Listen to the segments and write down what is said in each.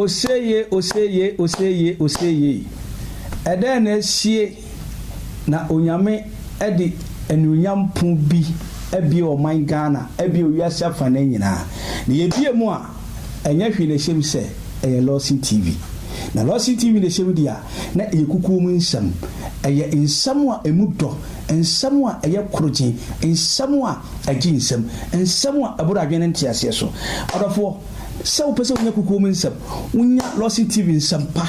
Oseeyee oseeyee oseeyee oseeyee ɛdɛn na asie na Onyame ɛde anuonyam pon bi abie ɔman Ghana ɛbia owiase afanee nyinaa na yɛbie mu a ɛnyɛ hwee na ɛhyɛ mu sɛ ɛyɛ Lawson TV na Lawson TV na ɛhyɛ mu deɛ a na ɛyɛ kukuo mu nsɛm ɛyɛ nsɛm a ɛmu dɔ nsɛm a ɛyɛ korogyen nsɛm a ɛgye nsam nsɛm a ɛboro adwene ne nteaseɛ so adɔfoɔ Sɛ wopɛ sɛ wunya kokoam nsɛm, wunya Lawson TV nsɛm pa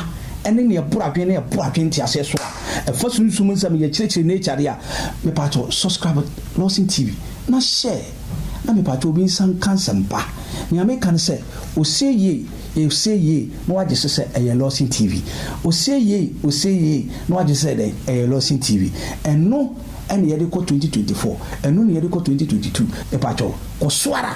ne nea ɛboro adwene na ɛboa adwene ntease so a ɛfa sunsum nsɛm ne yɛkyerɛkyerɛ nature ade a, mepatwɔ subscribe Lawson TV na share na mepatwɔ obi nsa nka nsɛm pa. Nea meka ne sɛ, Ose Yie, Ose Yie na woagye so sɛ ɛyɛ Lawson TV. Ose Yie, Ose Yie na woagye so sɛ dɛn? Ɛyɛ Lawson TV. Ɛno na yɛde kɔ 2024, ɛno na yɛde kɔ 2022. Mepatwɔ, kɔ so ara.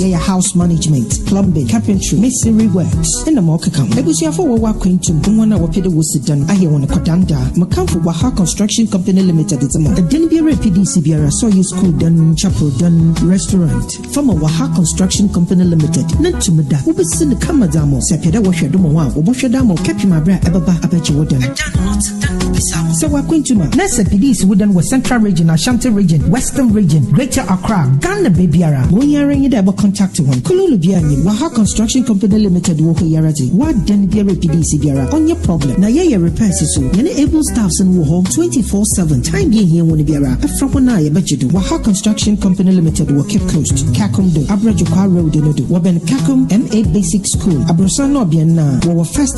Yɛyɛ house management, plumbing, carpentry, masonry works na ma ɔkeka ho. Abusuafo a wɔwɔ akwantu mu, hɔn a wɔpɛ dɛ wosi dan, ayɛ hɔn kwadan da a, Mkamfo Waha Construction Company Limited dze ma. Dan biara a PD si biara, sɛ ɔyɛ skuul dan, chapel dan, restaurant, fa ma Waha Construction Company Limited na tum da. Wobesi no kama dze ama wo. Sɛ epɛ dɛ wɔhwɛ do ma wo a, wɔbɔhwɛ do ama wo kɛpem aber a ebɛba abɛgye wo dan. Sɛ w'akwantu ma na sɛ PDs wo dɛn wɔ Central Region, Ashanti Region, Western Region, Greater Accra, Ghana baabiara, wo yi ara nye dɛ bɔ contact hɔn. Kululu biara nnyim, Waha Construction Company Limited wɔ hɔ yi ara dze, w'adan biara PDs biara, ɔnnyɛ problem. Na yɛyɛ repairs so, hɛn able staffs no wɔ hɔ twenty four seven, time bi a ihia hɔn biara, frɛ hɔn a yɛbɛgye do. Waha Construction Company Limited wɔ Cape Coast, Kakum do, Abrɛ Dwokwaa Road no do, wɔbɛn Kakum MA Basic School, aborɔsan na ɔbean no a, wɔwɔ first,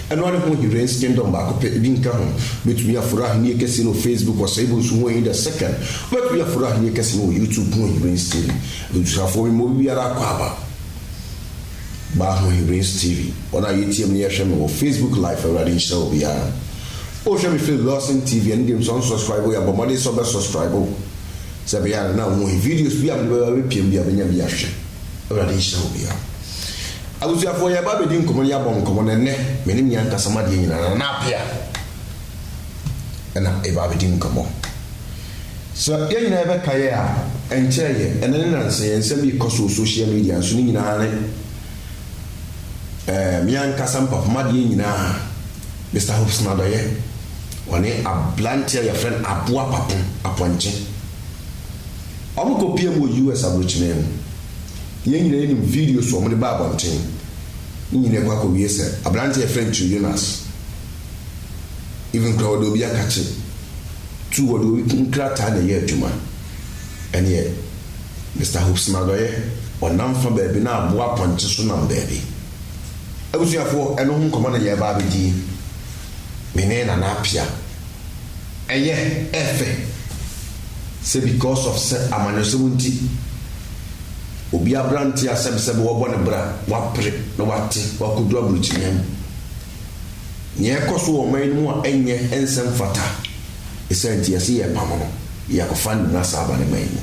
ɛno ara ne ho Hiren's Kingdom baako pɛ, ebi nka ho. Wobɛtumi aforo Ahennie Kɛseɛ no wɔ Facebook wɔ Saibu Nsu Ho Ahi The Second. Wobɛtumi aforo Ahennie Kɛseɛ no wɔ YouTube ho Hiren's TV. Abusuafoɔ mema obibiara akwaaba. Baa ho Hiren's TV. Wɔn a yɛteam no yɛhwɛ me wɔ Facebook live Awurade nhyira obiara. Wohwɛ me firi Lawson TV ɛno deɛ nso unsubscribe yɛ bɔ mmɔden sɛ wobɛ subscribe sɛ ɛbɛyɛ a na wo ho hi videos biara a mede bɛba bɛpiam biara bɛnya bi ahwɛ. Awurade nhyira obiara. Abusuafoɔ, yɛreba abɛdi nkɔmmɔ na yɛabɔ nkɔmmɔ, na ɛnnɛ me ne Mia Ntasam adeɛ nyinaa no, Nana Apea na ɛreba abɛdi nkɔmmɔ. Sɛ yɛn nyinaa yɛbɛka yɛ a, ɛnkyɛɛ yɛ, ɛnnɛ ne nansa yɛ, nsɛm bi rekɔ so wɔ social media nso, ne nyinaa ne eh, me ankasa mpapoma adeɛ nyinaa, Mister Hobson Adɔyɛ, ɔne abranteɛ a yɛfrɛ no Aboa Papo Apɔnkye. Wɔkɔpiam wɔ US aburokyimee no. Yɛn nyinaa nim video so a wɔde baa abɔnten no nyinaa kɔ akɔwie sɛ aberanteɛ a yɛfrɛ no Tio Jonas. Even koraa wɔde obi akakye tu wɔde obi nkrataa na ɛyɛ adwuma. Ɛneɛ Mister Hopes Madɔyɛ ɔnam fa baabi na aboa apɔnkye so nam baabi. Abusuafoɔ ɛno ho nkɔmmɔ na yɛreba abɛdi me ne Nana Appiah. Ɛyɛ ɛfɛ sɛ because of sɛ amanyɔsɛm nti obi abrante asɛm sɛbe wɔbɔ no bra, wapere na wate wakodu abrukyinia mu. Nea ɛkɔ so wɔ ɔman no mu a ɛnyɛ ɛnsɛ mfata ɛsaa nti yɛse yɛrepamo no yɛ akɔfa no nyina saa aba ne man mu.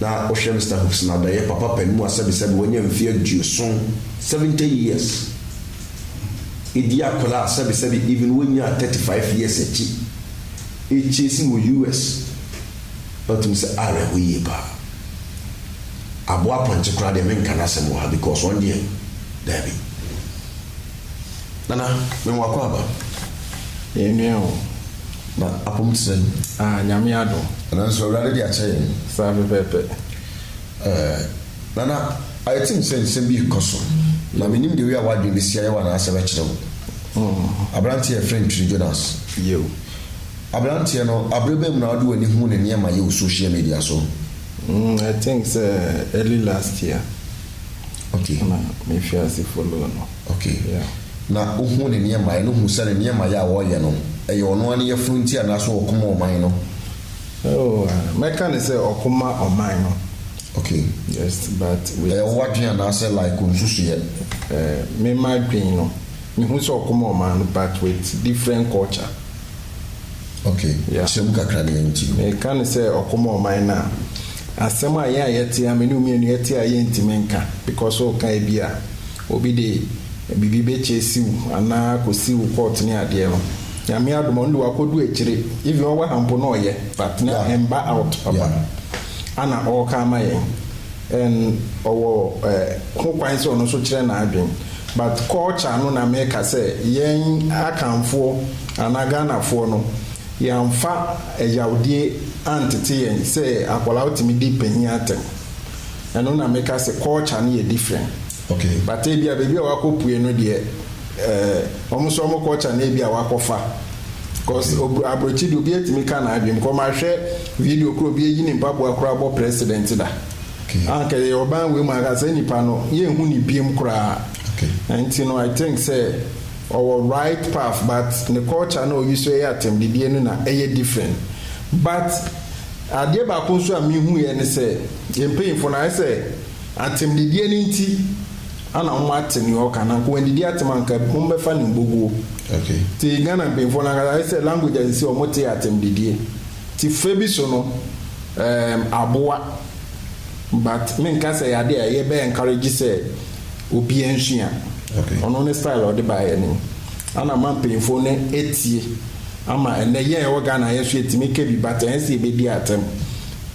Na wohwɛ Mister Hoops nadayɛ papa panin mu a sɛbe sɛbe wanya mfeɛ aduoson, 70 years, edi akwadaa a sɛbi sɛbi even wonyaa thirty five years akyi akyire si wɔ US na ɔtumi sɛ awerɛho yie paa. Aboa pɔnkye koraa deɛ menka n'asɛm wɔ ha because ɔno deɛ daabi. Nana me wɔ akwaaba. Yɛn nua o. Na apom te sɛn? Ah, Nyame adom. Nanso Awurade de akyɛ yɛn. Saa pɛpɛɛpɛ. Eh. Nana, ayɛ tim sɛ nsɛm bi rekɔ so, na mennim deɛ wei a w'adwene bɛsi ayɛ wo anaasɛ ɛbɛkyere wo. Aberanteɛ a yɛfrɛ no Twiri Jonas. Yiw. Aberanteɛ no, abere bɛn mu na wode w'ani huu ne nneɛma yɛ wɔ social media so? Mm, I think sɛ early last year Okay. na mefii ase follow no. Okay. Yeah. Na wohuu ne nneɛma yɛ no, wohu sɛ ne nneɛma yɛ a ɔreyɛ no, ɛyɛ ɔno ara ne yafunu nti anaasɛ ɔko ma ɔman no? Oh, ah, mɛka no sɛ ɔko ma ɔman no. Okay. Yes but wait. Ɛyɛ wo adwene anaasɛ like wo nsusuiɛ? Eh, me m'adwene no, me hu sɛ ɔkɔm a ɔmaa no but with different culture. Okay. Yeah. Sɛ mu kakra ne yɛn ti. Me ka ne sɛ ɔkɔm a ɔman no a, asɛm a yɛn a yɛte a me ne wo mmienu yɛte a yɛntumi nka because o ka ebi a obi de biribi bɛkyɛ si wo anaa kɔ si wo court ne adeɛ no. Nyame adom a ɔno de wakɔdu akyire even ɔwɔ ha mpo na ɔyɛ but na ɛmba out papa. Yeah. Ana ɔreka ama yɛn and ɔwɔ ho kwan sɛ ɔno nso kyerɛ n'adwen but culture no na meka sɛ yɛn Akanfoɔ anaa Ghanafoɔ no yɛamfa ɛyawdie antete yɛn sɛ akwadaa wotumi di panin atɛm ɛno na meka sɛ culture no yɛ different but ebia baabi a wakɔpue no deɛ Eh ɔmo so ɔmo culture na ebi a wakɔfa cos obr abrokyi de obi atumi ka n'adwen bcos mahwɛ video koro obi ayi ne mpaboa koro abɔ president da a nka yɛyɛ ɔban wei mu a nka saa nipa no yɛn hu ne biem koraa na nti no I think sɛ ɔwɔ right path but ne culture na ɔyi so ɛyɛ atɛmdidie no na ɛyɛ different but adeɛ baako nso a me hu yɛ ne sɛ yɛn mpanyinfo no ayɛ sɛ atɛmdidie no nti Ana ɔmo ate nea ɔka na nka wandidi atem a nka ɔmo bɛfa no mboguo nti Ghana mpanyinfoɔ no ankasa ayɛ sɛ language a sisi ɔmo te atem didie nti fa bi so no ɛɛm aboa but me nka sɛ ɛyɛ ade a yɛ bɛ encourage sɛ obia nsua ɔno ne style a ɔde baeɛ anim ana ama mpanyinfoɔ no atie ama ɛnɛ yɛn a yɛwɔ Ghana yɛnso yɛtumi ka bi but ɛnyɛ sɛ yɛbɛdi atem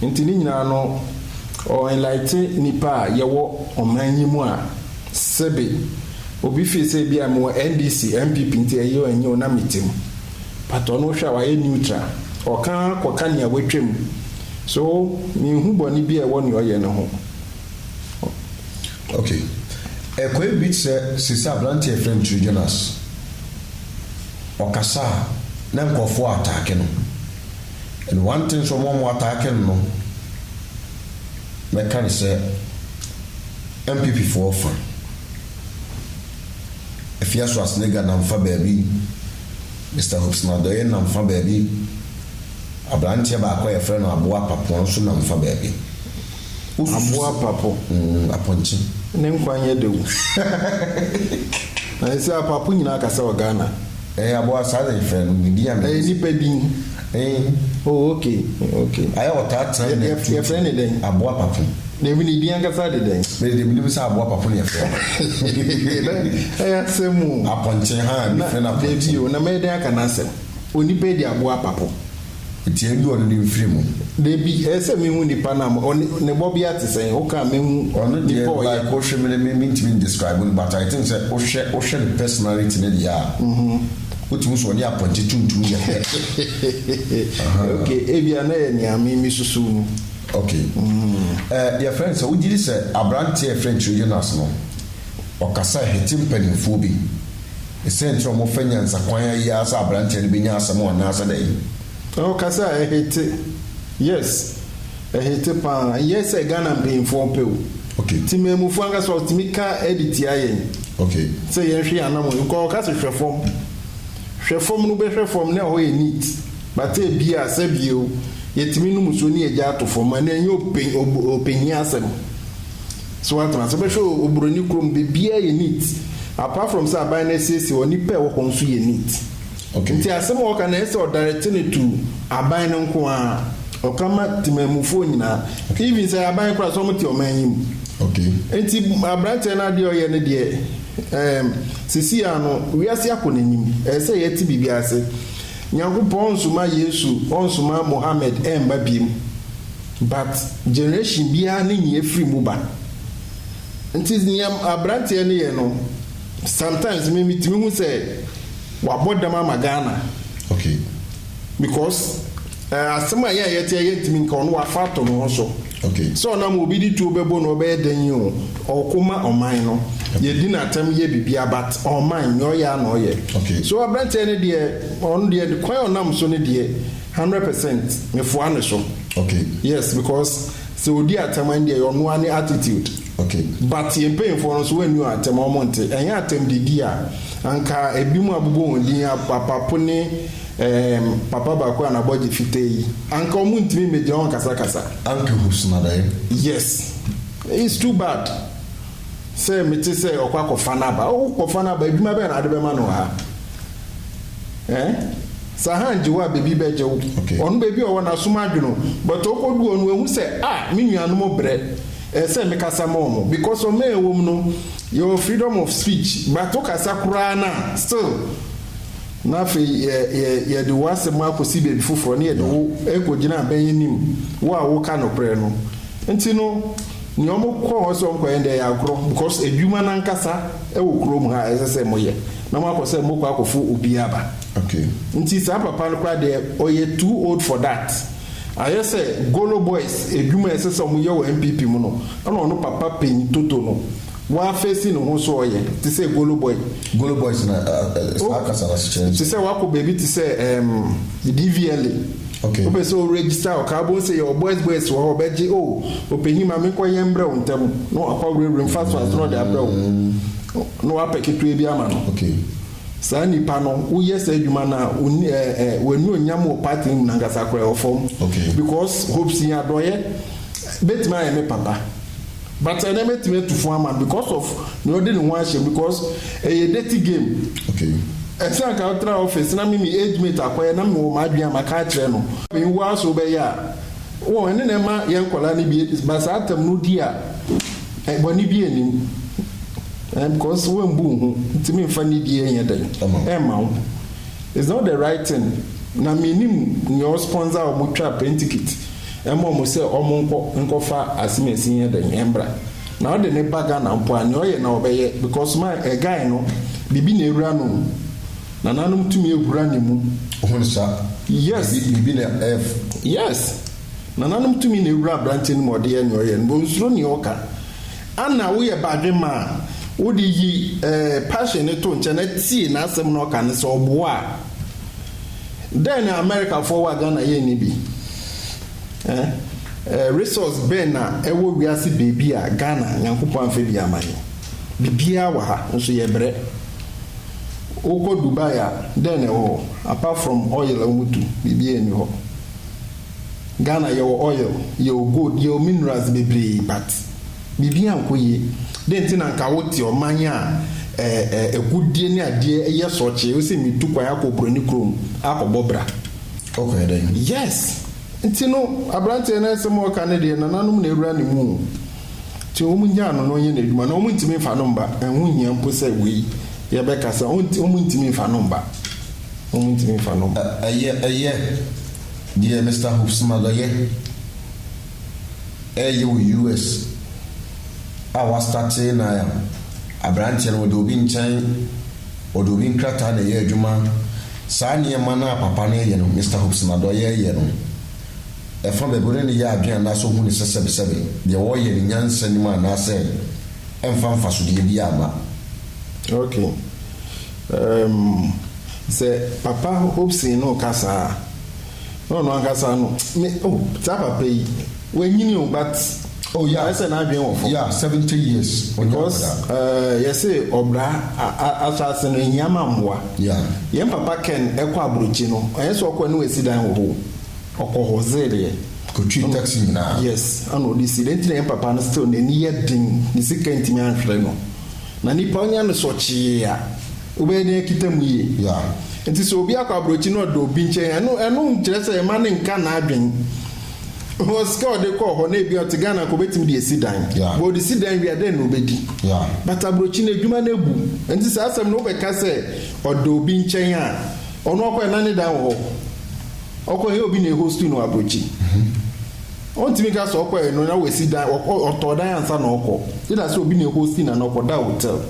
nti ne nyinaa no. Ɔ enlighten nnipa a yɛwɔ ɔman yi mu a sɛbe obi feel sɛ ebi a mewɔ NDC, NPP nti ɛye o ɛnye o na mete mu but ɔno wohwɛ a wayɛ neutral ɔka ara kɔ ka nea watwa mu so menhu bɔne bi a ɛwɔ nea ɔyɛ no ho. Ok ɛkɔɛ bi te sɛ seisei abranteɛ yɛfrɛ no Tiri Jonas ɔkasa a na nkurɔfoɔ attack no. And one thing so ɔmo a ɔmo attacke no no mɛka no sɛ NPP foɔ fa Afia Swasnega nam fa baabi, Mister Hobson Adoye nam fa baabi, abranteɛ baako a yɛfrɛ no Aboa Papoa nso nam fa baabi. Aboa Apapo, mm, apɔnkye. Ne nkwa nyɛ dɛw. Na ɛsɛ Apapo nyinaa kasa wɔ Ghana. Ɛɛ, aboa, saa na yɛfrɛ no, me din a me de. Ɛyɛ nipa din. Ee. Oh, okay, okay. Ayɛ a ɔtaa tena nɛ tuutu. Yɛfrɛ no dɛn? Aboa Apapo. Dabi, ne din ankasa de dɛn? Me de, menim sɛ Aboa Apapo na yɛfrɛ no. Ɛyɛ asɛm o. Apɔnkye, haa, yɛfrɛ no apɔnkye. Dabi o, na mɛyɛ dɛn aka n'asɛm? Onipa yi de Aboa Apapo. Teɛm de ɔno de mfiri mu. Dabi, ɛyɛ sɛ mehu nipa no ama ɔne ne bɔbea te sɛn wo kaa mehu ɔno deɛ nipa ɔyɛ. Like wo hwɛ me ne me mentumi describe no but I think sɛ wo hwɛ wo hwɛ ne personality ne deɛ a wo tumi hu sɛ ɔne apɔnkye tuntum yɛ pɛ ahaa. Ok ebia na ɛyɛ nea me me susu no. Ok eh yɛ frɛ no sɛ wo gyedi sɛ abranteɛ yɛ frɛ no Trojanass no ɔkasa hete mpaninfoɔ bi. Esiane sɛ wɔfa nyansakwan a eye ara sɛ aberanteɛ no bɛnya asɛm anaasɛ dɛn? Oh kasa a ɛhete yes ɛhete paa ɛnyɛ sɛ Ghana mpanyinfoɔ pɛ o Okay. Temanmufoɔ ankasa wɔtumi ka de tia yɛn Okay. sɛ yɛnhwe yɛn anamɔn yie kɔ ɔka sɛ hwɛ fam hwɛ fam no wobɛhwɛ fam na ɛhɔ yɛ neat but ebi a sɛbio yɛtumi nom nsuo ne yɛgya ato fam ɛno ɛnyɛ ɔpɛ ɔpɛ hia asɛm. So woatena ase bɛhwɛ oburoni kurom? Biribiara yɛ neat. Apart from sɛ aban no asiesie hɔ, nnipa a ɛwɔ hɔ nso yɛ neat. Okay. Nti asɛm a wɔka no, ɛyɛ sɛ ɔdirect no to aban no nko ara. Ɔka ma temanmufoɔ nyinaa. Even sɛ ɛyɛ aban koraa a, sɛ wɔte ɔman yi mu. Okay. Nti aberanteɛ no adeɛ a ɔyɛ no deɛ, ɛɛm, seesei ara no, wiase akɔ n'anim. Ɛyɛ sɛ yɛte biribi ase. Nyankopɔn ɔnsoma Yesu, ɔnsoma Mohammed ɛmma biom. But generation biara ne nea ɛfiri mu ba. Nti nea abranteɛ no yɛ no, sometimes me metumi hu sɛ wabɔ dam ama Ghana. Okay. Because eh, asɛm a yɛn a yɛteɛ yɛntumi nka ɔno wafa ato ne ho so. Okay. Sɛ ɔnam obi de tuo bɛbɔ no ɔbɛyɛ dɛn yi o, ɔko ma ɔman no. Yɛdi no atɛm yɛ biribiara but ɔman nea ɔyɛ a na ɔyɛ. Okay. So abranteɛ no deɛ ɔno deɛ kwan a ɔnam so no deɛ Hundred percent mefoa no so. Okay. Yes because sɛ ɔdi atɛm a ɛndeɛ ɔno ara ne attitude. Okay. But yɛn mpanyinfoɔ no nso wɔn anni wɔn atɛm a wɔn nte. Ɛnyɛ atɛm de di a anka ɛbinom abobɔ wɔn din apapo ne ɛɛm papa baako a n'abɔgye fitaa yi anka wɔn ntumi mmɛgyina hɔ nkasakasa. Anka ɛhusuma bɛyɛ. Yes. It's too bad. Sɛ mete sɛ ɔkɔ akɔfa n'aba. Oh, kɔfa n'aba, adwuma bɛn na ade bɛma no wɔ ha? Eh? Sɛ han gye wo a, baabi bɛgye wo. Okay. Ɔno baabi a ɔwɔ no, asom adwene o. But ɔkɔdu hɔ no, wahu sɛ, ah, me nuanom brɛ. Ɛsɛ sɛ mekasa ma wɔn. Because ɔman a yɛwɔ mu no, yɛwɔ freedom of speech. But wokasa koraa no a, still, na afei yɛ, yɛ, yɛde wo asɛm akɔsi baabi foforɔ, na yɛde wo kɔgyina abɛn anim, wo a woka nokorɛ no. Nti no. Nea ɔmo kɔ hɔ sɛ ɔmo kɔyɛ no deɛ ɛyɛ agorɔ because adwuma no ankasa ɛwɔ kurom ha a ɛsɛ sɛ mo yɛ na mo akɔ sɛ mo kɔ akɔ fo obi aba nti saa papa no koraa deɛ ɔyɛ too old for that ayɛ sɛ golo boys adwuma a ɛsɛ sɛ ɔmo yɛ wɔ NPP mu no ɛna ɔno papa panyin toto no Mo afesi no ho so ɔyɛ te sɛ Golo Boy. Golo Boys na saa kasa no ase kyerɛ ne sɛ. Te sɛ wakɔ baabi te sɛ ɛɛm DVLA. Okay. Wopɛ sɛ o register wɔ kaa wobɛhu sɛ yɛwɔ boys boys wɔ hɔ ɔbɛgye o ɔpanyin ma menkɔ yɛ mbrɛ wo ntɛm na wakɔ awurawura mu fast fast na ɔde abrɛ wo na wapɛ ketewa bi ama no. Okay. Saa nipa no woyɛ saa adwuma no a onni ɛɛ ɛɛ w'anuonyam wɔ party no mu no ankasa koraa ɛwɔ fam. Okay. Because Hope Sii adɔeɛ bɛtumi ayɛ me papa. But ɛnɛ mɛtumi atu fo ama no because of nea ɔde ne ho ahyɛ mu because ɛyɛ dirty game. Okay. Ɛsɛ anka wotra office na me me age mate akɔyɛ na mewɔ m'adwene a maka akyerɛ no. Me wo ara so wobɛyɛ a? Wɔn ɛne na ɛma yɛn nkwadaa no bi ba saa tam no di a bɔne biara nnim ɛɛ because woambu wo ho nti memfa nidie nyɛ dɛn ɛmma wo. It's not the right thing na me nim nea ɔ sponsor a ɔmo twa plane ticket ma ɔmo sɛ ɔmo nkɔ nkɔ fa asimesi nyɛ dɛn ɛmbra na ɔde ne ba Ghana mpo a nea ɔyɛ na ɔbɛyɛ because my ɛ guy no biribi na ɛwura no mu nananom tumi ɛhura ne mu Hon sir, Yes. biribi na ɛf. Yes. Nananom tumi na ɛwura abranteɛ no mu a ɔde yɛ nea ɔyɛ no but ɔnsuro nea ɔka. Ana woyɛ badwemma a wode yi Pershing no to nkyɛn na tie n'asɛm na ɔka no sɛ ɔboa a? Dɛn na Amerikafoɔ wɔ a Ghana yɛn nni bi? Ɛh? Resource bɛn na ɛwɔ wiase baabi a Ghana Nyankopɔn amfa bi ama yɛn? Biribiara wɔ ha, nso yɛbrɛ. Wokɔ Dubai a, dɛn na ɛwɔ hɔ? Apart from oil a wɔtu, biribiara nni hɔ. Ghana yɛwɔ oil, yɛwɔ gold, yɛwɔ minerals bebree but biribiara nkɔ yie. Dɛn nti na nka wote ɔman a agudeɛ ne adeɛ yɛ sɔkyee, wose metu kwan akɔ oburoni kurom akɔbɔ bra. Ɔkɔyɛ dɛn? Yes! Nti no aberanteɛ no asɛm a ɔka no deɛ nananom na awura ne mu o. Nti wɔnnyaa no na ɔnyɛ n'adwuma na wɔntumi mfa no mma, ɛho nhia mpo sɛ wei yɛbɛkasa, wɔntumi mfa no mma, wɔntumi mfa no mma. Ɛyɛ, ɛyɛ. Deɛ Mister Hupsmager yɛ reyɛ wɔ US a wɔastate no ayɛ aberanteɛ no, wɔde obi nkyɛn, wɔde obi nkrataa na ɛyɛ adwuma. Saa nneɛma no a papa no reyɛ no, Mister Hupsmager reyɛ no, ɛfa baabi ɔne no yɛ adwene anaasɛ ɔhu no sɛ sɛbesɛbe, deɛ ɔreyɛ no nyansa nnim anaasɛ ɛmfa mfasodeɛ biara mma. Okay. Um, sɛ Papa Hobson no reka saa a, na ɔno ankasa no, me, oh, saa papa yi, wanyini o, but, oh, yeah, ɛsɛ n'adwene wɔ fam. Yeah, seventy years. Because, uh, yɛse ɔbra asase no ehia ma mmoa. Yeah. Yɛn papa Ken ɛkɔ aburokyi no, ɛnyɛ sɛ ɔkɔ ne wasi dan wɔ hɔ o, ɔkɔ hɔ zereɛ. Kotwi taxi nyinaa. Yes, ɛna ɔde si. Dɛn ti na yɛn papa no still n'ani yɛ den, ne sika ntumi anhwere no. Na nipa onya no so ɔkyee a, wobɛyɛ dɛn akita mu yie? Nti sɛ obi akɔ aborɔkyi na ɔda obi nkyɛn a, ɛno ɛno nkyerɛ sɛ mma no nka n'adwene. Because sika a ɔde kɔɔ hɔ no, ebia ɔte Ghana anka ɔbɛtumi de asi dan. But ɔde si dan wie a, dɛn na ɔbɛdi? But aborɔkyi no, adwuma no abu. Nti saa asɛm no, wobɛka sɛ ɔda obi nkyɛn a, ɔno ɔkɔeɛ no na ne dan wɔ hɔ? Ɔkɔeɛ no, ɛnyɛ obi na ɛhostu no wɔ aborɔkyi. Ɔntumi nka sɛ ɔkɔɛ no na wasi dan, ɔtɔɔ dan ansa na ɔkɔ. Gye da sɛ obi na ɛhosti no anaa ɔkɔda hotel.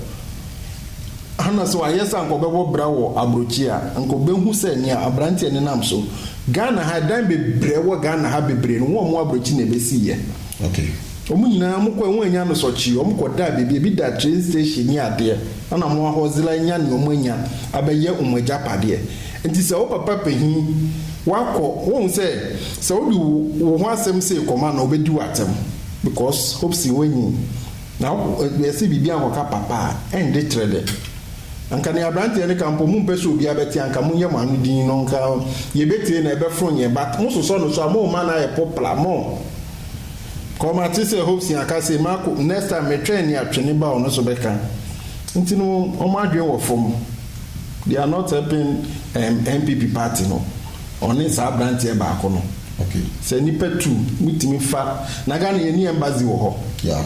Ana sɛ wayɛ sɛ anka ɔbɛbɔ bra wɔ abrokyi a, anka ɔbɛhu sɛ nea abranteɛ no nam so. Ghana ha, dan bebree a ɛwɔ Ghana ha bebree no, wɔn abrokyi na ɛbɛsiiɛ. Wɔn nyinaa, wɔkɔɛ, wɔn annya nosɔkyee, wɔn kɔdaa baabi, ebi da train station ne adeɛ, ɛna wɔn ahɔzela anya nea wɔn anya abɛyɛ wɔn agyapadeɛ. Enti sɛ wo papa pahin wakɔ wohu sɛ sɛ wode wo ho asɛm sei kɔma no a ɔbɛdi wo atɛm because hope sɛ woanyin na ɛsɛ biribiara nkɔka papa a ɛnde trɛ dɛ anka nea abranteɛ no ka mpo mompɛ sɛ obiara bɛte anka monyɛ mo ano din no nka yɛbɛtie na ɛbɛforo yɛn but mososɔ no so a momma no ayɛ popla mo kɔ mate sɛ hope sɛ aka sei mako next time metwɛn nea twene ba ɔno so bɛka nti no wɔn adwene wɔ fam. They are not helping um NPP party no ɔne saa abranteɛ baako no okay sɛ nipa tu mo tumi fa na Ghana yɛ ni embassy wɔ hɔ yeah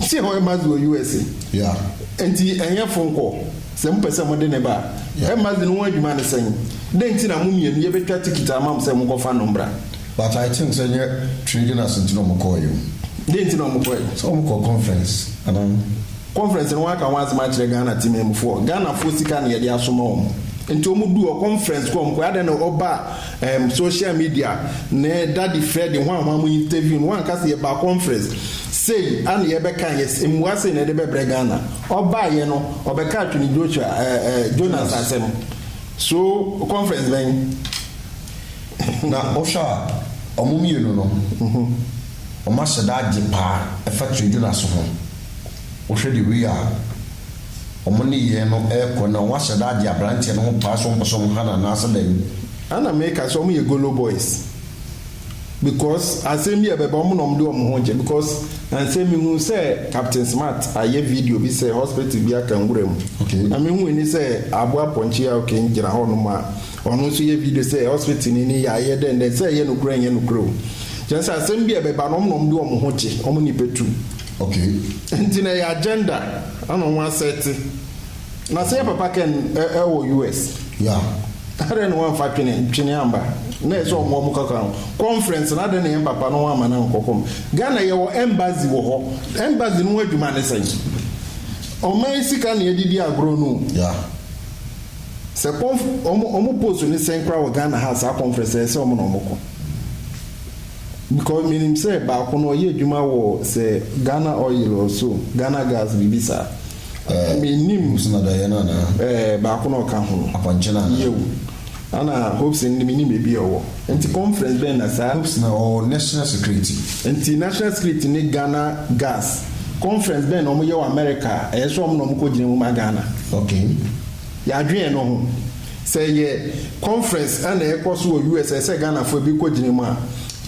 sɛ hɔ embassy wɔ USA yeah nti ɛnyɛ fo nkɔ sɛ mo pɛ sɛ mo de ne ba yeah embassy no ho adwuma ne sɛn dɛn nti na mo mmienu yɛ bɛtwa tikiti ama mo sɛ mo kɔ fa no mbra but I think sɛ nyɛ trading as nti na ɔmo kɔɔ yɛ o dɛn nti na ɔmo kɔɛ sɛ ɔmo kɔ conference anaa. Conference no wɔaka ho asɛm akyerɛ Ghana temanmufoɔ, Ghanafoɔ sika na yɛde asoma wɔn nti wɔn duu hɔ, conference kɔ a wɔn kɔɛ, adɛn na ɔba ɛɛm social media ne daddy Freddy hwan hwan mo interview no wanka sɛ yɛbaa conference sei a na yɛbɛka yɛ mmua sei na yɛde bɛbrɛ Ghana, ɔbaeɛ no ɔbɛkaa Twene Joshua ɛɛ ɛɛ Jonas asɛm so conference bɛn? Na wohwɛ a wɔn mmienu no wɔn ahyɛda agye paa ɛfa Twene Jonas ho. Wohwɛ de wei a wɔn nneyɛɛ no rekɔ no a, wɔn ahyɛ da agye abranteɛ no ho paa sɛ wɔn pɛ sɛ wɔn ha no anaasɛ dɛn? Ana me ka sɛ wɔn yɛ golo boys because asɛm bi a ɛbɛba wɔn na wɔn de wɔn ho rekyɛ because ansɛ me hu sɛ captain smart ayɛ video bi sɛ hospital bi aka nwura mu okay na me hu ni sɛ abo apɔnkye a okay gyina hɔ nom a ɔno nso yɛ video sɛ hospital ni ni yɛ dɛn dɛn sɛ ɛyɛ no kura nyɛ no kura o kyɛn sɛ asɛm bi a ɛbɛba wɔn na wɔn de wɔn ho kyɛ wɔn nipa tu. Okay nti no ɛyɛ agenda ɛna ɔmo asɛte na sɛ yɛ papa ken ɛwɔ US yeah adɛn na wanfa twene ntwene amba na ɛsɛ ɔmo ɔmo kɔka ho conference no adɛn na yɛn papa no wama no ankɔ kɔm Ghana yɛwɔ embassy wɔ hɔ embassy no ho adwuma ne sɛn ɔman sika na yɛde di agorɔ no o yeah sɛ conf ɔmo ɔmo post ne sɛn koraa wɔ Ghana ha saa conference ɛyɛ sɛ ɔmo na ɔmo kɔ. Because menim sɛ baako no ɔyɛ adwuma wɔ sɛ Ghana oil or so, Ghana gas biribi saa. Eh, menim. Hope na dayɛ no anaa? Eh, baako na ɔka ho no. Apɔnkye no anaa? Yew. Ana Hope sɛ no menim baabi a ɔwɔ. Nti conference bɛn na saa? Hope na ɔwɔ national security. Nti national security ne Ghana gas conference bɛn na wɔyɛ wɔ America a ɛyɛ sɛ wɔn na wɔkɔ gyina mu ma Ghana? Okay. Yɛadwen ɛno ho. Sɛ ɛyɛ conference na ɛrekɔ so wɔ US a ɛsɛ sɛ Ghanafoɔ bi kɔ gyina mu a,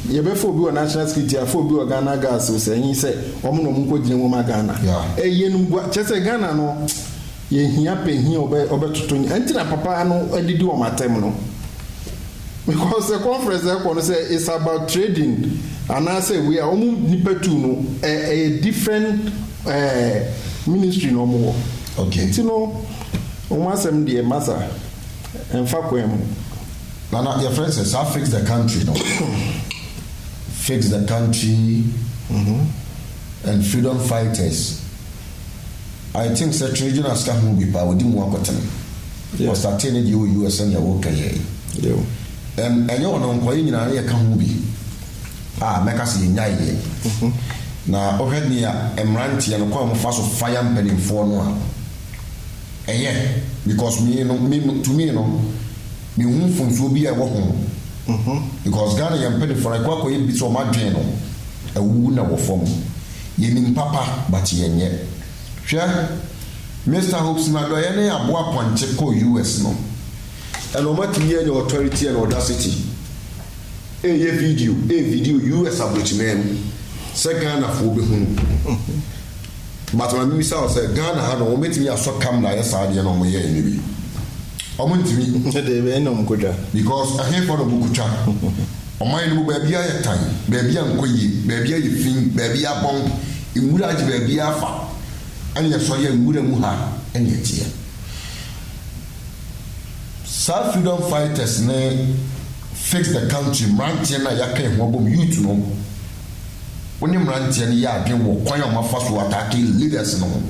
yɛbɛfa obi wɔ National Security, yɛafa obi wɔ Ghana Guards o, sɛ ɛnye sɛ wɔn na wɔn nkɔ gyina mu ma Ghana. Ɛyɛ yɛnum gua, kyerɛ sɛ Ghana no yɛhia panyin a ɔbɛ ɔbɛtoto nyi, ɛnti na papa no adidi wɔn atɛm no. Because sɛ conference na ɛkɔ no sɛ it's about trading anaasɛ wei a wɔn nipa tu no ɛ ɛyɛ different ɛɛ ministry na wɔn wɔ. Okay. Nti no. Wɔn asɛm deɛ masa ɛmfa kwan mu. Nana yɛfrɛ no sɛ saa fix the country no fix the country and freedom fighters I think sɛ Twere Jonas ka ho bi paa ɔdi mu akɔtene ɔstartee ne deɛ wɔ US sɛdeɛ woka yɛ yi and ɛnyɛ ɔno nko yɛ nyinaa na yɛka ho bi a mɛka sɛ yɛnyae yɛ na wohwɛ nea mmeranteɛ no kwan a wɔfa so fire mpaninfoɔ no a Ɛyɛ because me no me no to me no me hu mfomsoɔ bi a ɛwɔ ho because Ghana yɛn mpanifoɔ no ɛkɔ akɔ yɛ bi sɛ wɔn adwen no awuwu na ɛwɔ fam yɛ nim papa but yɛn nyɛ hwɛ Mister Hopes na dɔyɛ ne aboa pɔnkye kɔ US no ɛna wɔn atumi yɛ nyɛ authority and audacity ɛyɛ video ɛyɛ video US abrokyiman mu sɛ Ghanafoɔ bɛhunu. But ma me bisa wo sɛ Ghana ha no wɔn bɛtumi asɔ camera ayɛ saa adeɛ no wɔn yɛɛ no bi? Wɔn ntumi. Ɛdeɛ wei na wɔn kɔ twa. Because ɛhefoɔ na wɔn kɔ twa? Ɔman no mu baabiara ayɛ tan, baabiara nkɔ yie, baabiara yɛ fii, baabiara abɔn, nwura agye baabiara afa, ɛna yɛsɔre yɛ nwura mu ha ɛna ɛteɛ. Saa freedom fighters ne fix the country mmeranteɛ no a yɛaka yɛn ho abom, youth no, Wo ne mmeranteɛ no yɛ adwene wɔ kwan a wɔn afa so ataake leaders no ho?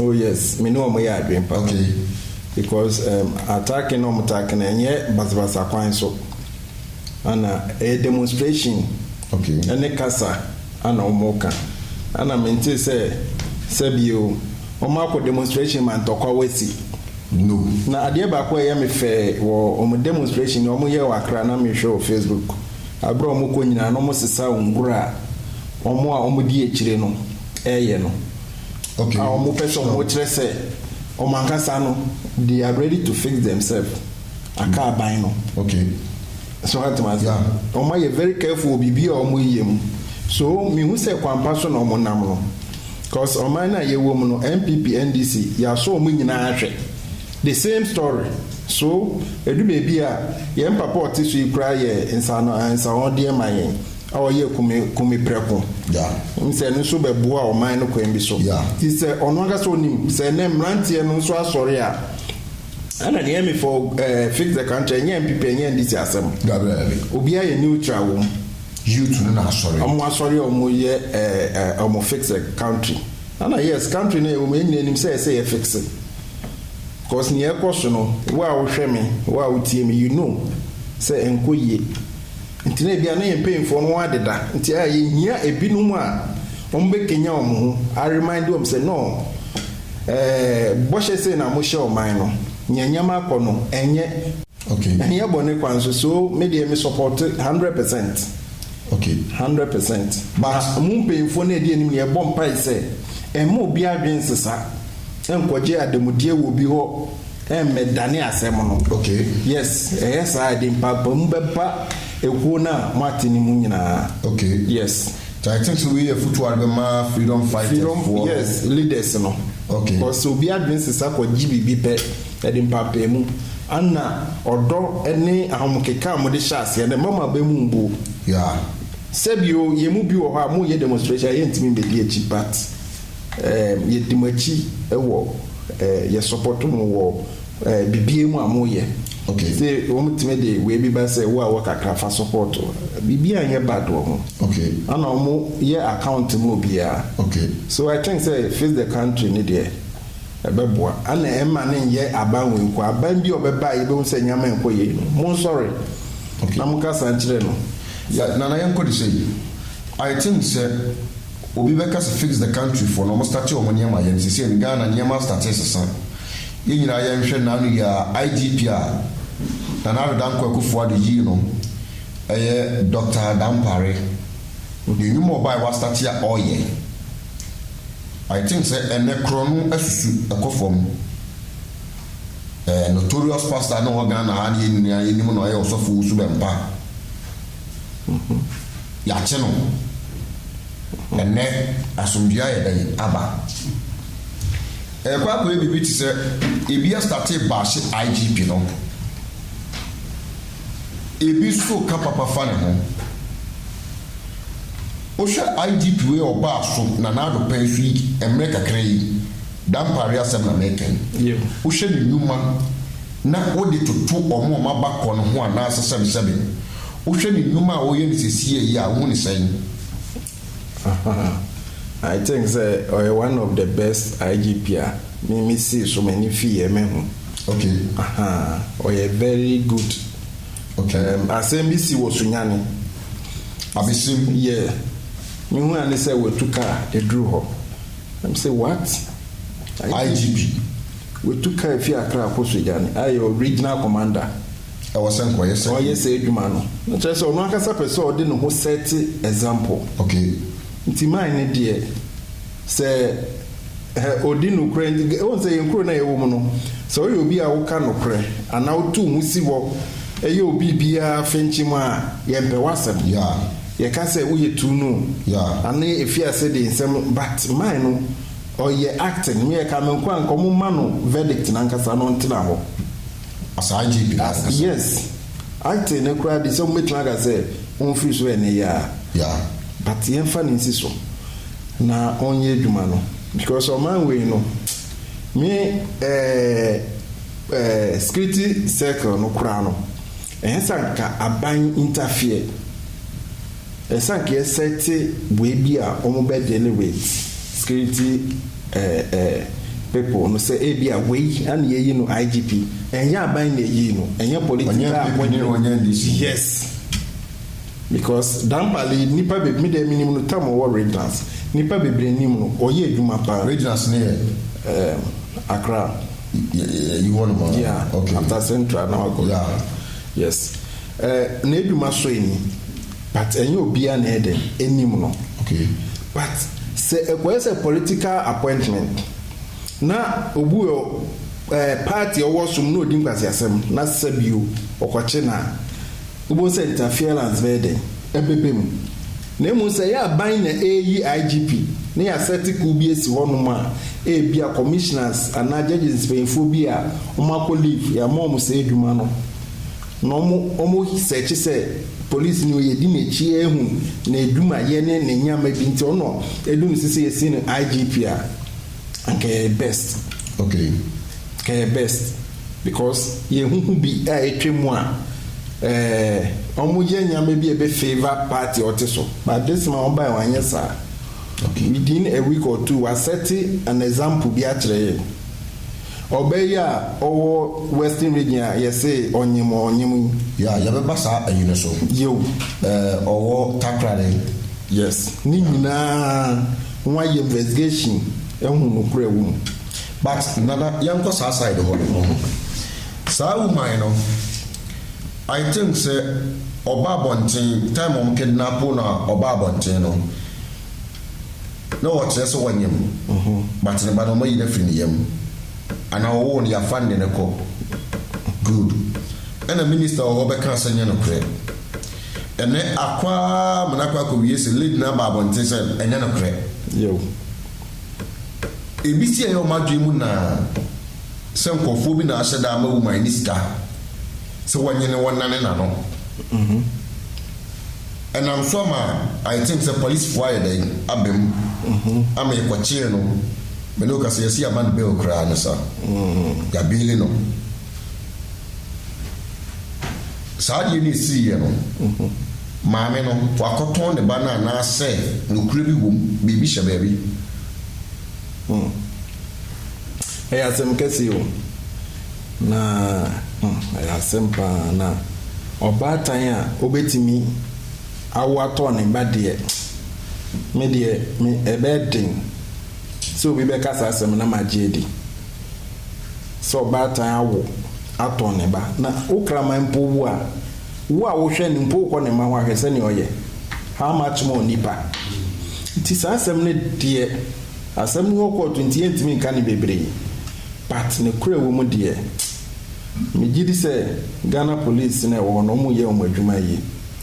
Oh yes, me ne wɔn yɛ adwene paa. Okay. Because um, ataake na wɔn taake no ɛnyɛ basabasa kwan so, ana ɛyɛ demonstration. Okay. Ɛne kasa ana wɔn ka, ana me nte sɛ sɛbi o, wɔn akɔ demonstration ma ntɔkwa wasi. No. Na adeɛ baako a ɛyɛ me fɛ wɔ wɔn demonstration wɔn yɛ wɔ Accra na me hwɛ wɔ Facebook. Bere a wɔkɔ nyinaa no wɔsesa ngur a wɔn a wɔdi akyire no reyɛ no. A Wɔpɛ sɛ wɔkyerɛ sɛ wɔn ankasa no they are ready to fix themselves aka aban no. Okay. So ate m'ase? Yeah. Wɔayɛ very careful wɔ biribi a wɔreyɛ mu. So mehu sɛ kwan pa so na wɔnam no. Cause ɔman no a yɛwɔ mu no, NPP, NDC, yɛasɔ wɔn nyinaa ahwɛ. The same story, so ɛdu baabi a, yɛn papa a ɔte so yi koraa yɛ nsaanoansawɔdeɛ ma yɛn a ɔyɛ kume kume prɛko. Yeah. N sɛ ɛno nso bɛboa ɔman no kwan bi so. Yeah. Nti sɛ ɔno ankasa ɔnim sɛ ɛnɛ mmeranteɛ no nso asɔre a, ɛna neɛ me for eh, fix the country ɛnyɛ NPP ɛnyɛ NDC asɛm. Dabi dabi. Obiara yɛ neutral wɔ mu. Youth no na asɔre. Ɔmo asɔre a ɔmo yɛ eh, eh, ɔmo fix the country. Ɛna yes, country no a yɛwɔ mu yɛn nyinaa nim sɛ ɛsɛ yɛ fixe. Cause nea ɛkɔ so no wo a wohwɛ me, wo a wotie me you know sɛ ɛnkɔ yie. Nti na ebia na yɛn mpanyinfoɔ no wɔadeda nti a yɛhia ebinom a wɔbɛkanyan wɔn ho a remind wɔn sɛ no ɛɛ bɔhyɛ sei na mohyɛ ɔman no. Nea nneɛma akɔ no ɛnyɛ. Ok. Ɛnyɛ bɔne kwa nso so me deɛ me sɔpɔte hundred percent. Ok. Hundred percent. But mo mpanyinfoɔ na ɛdi anim no yɛ bɔ mpae sɛ ɛmma obi adwene nsesa nkɔgye ademudeɛ wɔ obi hɔ ɛmmɛ dane asɛm no. Ok. Yes ɛyɛ saa ɛde mpapamu bɛba ekuo no a mo ate no mu nyinaa. Ok. Yes. Nti I think sɛ wei yɛ afutuo a wode bɛma freedom fighters foɔ no. Freedom yes leaders no. Ok. Because sɛ obi adwene sesa kɔgye biribi pɛ. Yɛde mpaapaemu, anna, ɔdɔ, ne ahomkeka a mode hyɛ aseɛ no mma mo abam mmbu. Yaa. Sɛbi o, yɛn mu bi wɔ hɔ a moreyɛ demonstration a yɛntumi mmɛdi akyi but ɛɛm yɛdi mo akyi wɔ ɛɛ yɛ support mo wɔ ɛɛ biribiara mu a moreyɛ. Ok. Sɛ wɔtumi de wei bi ba sɛ wo a wɔ kakra fa support biribiara nyɛ bad wɔ ho. Ok. Anna wɔyɛ account ma obiara. Ok. So I think sɛ face the country no deɛ. Ɛbɛboa. Ana ɛmma no nyɛ aban wei nko. Aban bi a ɔbɛba a yɛbɛhu sɛ nneɛma nkɔ yie no, monsɔre na monkasa nkyerɛ no. Yɛ, Nana yɛnkɔ de sei. I think sɛ obi bɛka sɛ fix the country foɔ no, ɔmo starte ɔmo nneɛma yɛ no seisei no, Ghana nneɛma astarte resesa. Yɛn nyinaa yɛnhwɛ Nano yi a, IGP a Nana Addo Dankwa Akuffo Addo yii no, ɛyɛ Doctor Dampare. Yɛn nnwuma a ɔbaeɛ wastarte a ɔreyɛ. I think sɛ ɛnɛ korɔ no asusu ɛkɔ fam ɛɛ notorious pastor no wɔ Ghana ha ne yɛn nyinaa yɛnim no ɔyɛ ɔsɔfo wo su bɛmpa yɛakye no ɛnɛ asomdwoeɛ ayɛ dɛn aba ɛrekɔ akɔyɛ biribi te sɛ ebi astate baahye IGP no Ebi so ka papa fa ne ho. Wohwɛ IGP wei a ɔbaa so na Nado pɛn so yi mmerɛ kakra yi, dampaare asɛm na mɛka yi. Wohwɛ ne nnwuma na wode toto wɔn a wɔaba kɔ no ho anaasɛ sɛbesɛbe, wohwɛ ne nnwuma a ɔyɛ no sesie yi a, wohu no sɛn? Ahaa I think sɛ ɔyɛ one of the best IGP a me me sii so m'ani fii yɛ mahu. Okay. Ahaa ɔyɛ very good. Okay. Um, asɛm bi si wɔ Sunyani. Abesim. Yeah. Mehu ane sɛ watu kaa eduru hɔ. I'm say what? IGP. Watu kaa efi Accra akɔ Sunyani. Ayɛ original commander. Ɛwɔ sɛ nka ɔyɛ saa adwuma. Ɔyɛ saa adwuma no. Na kyerɛ sɛ ɔno ankasa pɛ sɛ ɔde ne ho set example. Okay. Nti mine no deɛ, sɛ hɛ ɔdi nokorɛ nti, wohu sɛ yɛn kuro no a yɛwɔ mu no, sɛ woyɛ obi a woka nokorɛ anaa woto wo ho si hɔ yɛ obi biara fenkyem a, yɛmpɛ w'asɛm. Yeah. Yɛka sɛ woyɛ too no o. Yeah. Ano efi ase de nsɛm but mine no, ɔyɛ acting. Me yɛka me nkoa nka wɔmma no verdict no ankasa na ɔntena hɔ. Saa gye bi na wɔpɛ sɛ. Yes, acting no koraa de sɛ wobɛtumi aka sɛ ɔmfiri so yɛ ne yɛ a. Yeah. But yɛmfa no nsi so na ɔnyɛ adwuma no because ɔman wei no me eh, eh, security circle no koraa no ɛyɛ sɛ anka aban interfere. Ɛsan kɛ sɛ te bue bi a ɔmo bɛ dele with security eh eh people no sɛ ebia wei ana yɛyi no IGP ɛnyɛ aban na ɛyii no ɛnyɛ political appointment yes because Dampale nipa beb me deɛ menim no tam ɔwɔ regions nipa bebree nim no ɔyɛ adwuma paa. Regions no yɛ? Ehm Accra. Yɛ yɛ yi hɔ nom a? Yeah okay after central na wakɔ yeah yes. Eh n'edwuma sɔ enyi but ɛnyɛ obia na ɛdɛn enim no okay but sɛ ɛkɔyɛ sɛ political appointment na obu wɔ eh party ɔwɔ so mu na odi nkwaseasɛm na sɛ bio ɔkɔkye no a wobohu sɛ interference bɛyɛ dɛn ɛbɛbɛ mu na mmom sɛ ɛyɛ aban na eyi IGP na yɛ asɛte kuw bi esi hɔ nom a ebia commissioners anaa judges mpanyinfoɔ bi a wɔn akɔ leave yɛ ama wɔn saa edwuma no Na ɔmo ɔmo sɛɛkye sɛ police ni o yɛdi n'akyi ehu n'adwuma yɛ ne ne nneɛma bi nti ɔno edu no sisi yɛsi no IGP a anka ɛyɛ best ok anka ɛyɛ best because yɛ hu hu bi a etwa mu a ɛɛ ɔmo yɛ nneɛma bi a ebe favour party a ɔte so but this ma ɔmo bae wɔn anyɛ saa ok within a week or two wa sɛte an example bi akyerɛ yɛn. Ɔbaa yi a ɔwɔ western region a yɛse ɔnyem a ɔnyem yi. Yeah, yɛbɛba saa ayi no so. Yew. Eh, ɔwɔ Takoradi. Yes, ne nyinaa wɔayɛ investigation ahu nokorɛ wɔ mu. But Nana, yɛnkɔ saa side hɔ no, wohu. Saa woman no, I think sɛ ɔba abɔnten, time a wɔn kidnap no a ɔbaa abɔnten no, Na wɔkyerɛ sɛ wɔanyem, but ne ba no wɔayi no afiri ne yam anaa wɔwoo no yɛafa no de no kɔ. Good. Ɛna minister wɔ hɔ bɛkaa sɛ nyɛ nokorɛ. Ɛnɛ akɔ ara ma no akɔ akɔwie sɛ lady no aba abɔnten sɛ ɛnyɛ nokorɛ. Yiw. Ebi si ɛyɛ wɔn adwene mu naa sɛ nkorɔfoɔ bi na ahyɛ da ama woman no sika sɛ wɔnyene wɔnnane n'ano. Ɛnam so ama ayɛ te sɛ polisifo ayɛ dɛn aba mu ama yɛkɔkyee no, me ne wo kasa yi yɛse yɛama no bail koraa no sa, yɛabeele no. Saa adeɛ no a ɛsiiɛ no, maame no wakɔtɔn ne ba no anaasɛ nokorɛ bi wɔ mu, biribi hyɛ baabi. Hmm. Ɛyɛ asɛm kɛseɛ o. Na hmm, ɛyɛ asɛm paa. Na ɔbaatan a obetumi awo atɔ ne ba deɛ, me deɛ, me, ɛbɛyɛ den sɛ obi bɛka saa asɛm no na magye adi. Sɛ ɔbaatan awo atɔ ne ba, na wo kraman mpo wu a, wo a wohwɛ no mpo wokɔ ne mma hɔ ahwɛ sɛnea ɔyɛ, how much more nipa? Nti saa asɛm no deɛ. Asɛm no hɔ kɔɔ to nti yɛntumi nka no bebree but nokorɛ a ɛwɔ mu deɛ me gye di sɛ Ghana police no a ɛwɔ hɔ no wɔn yɛ wɔn adwuma yie.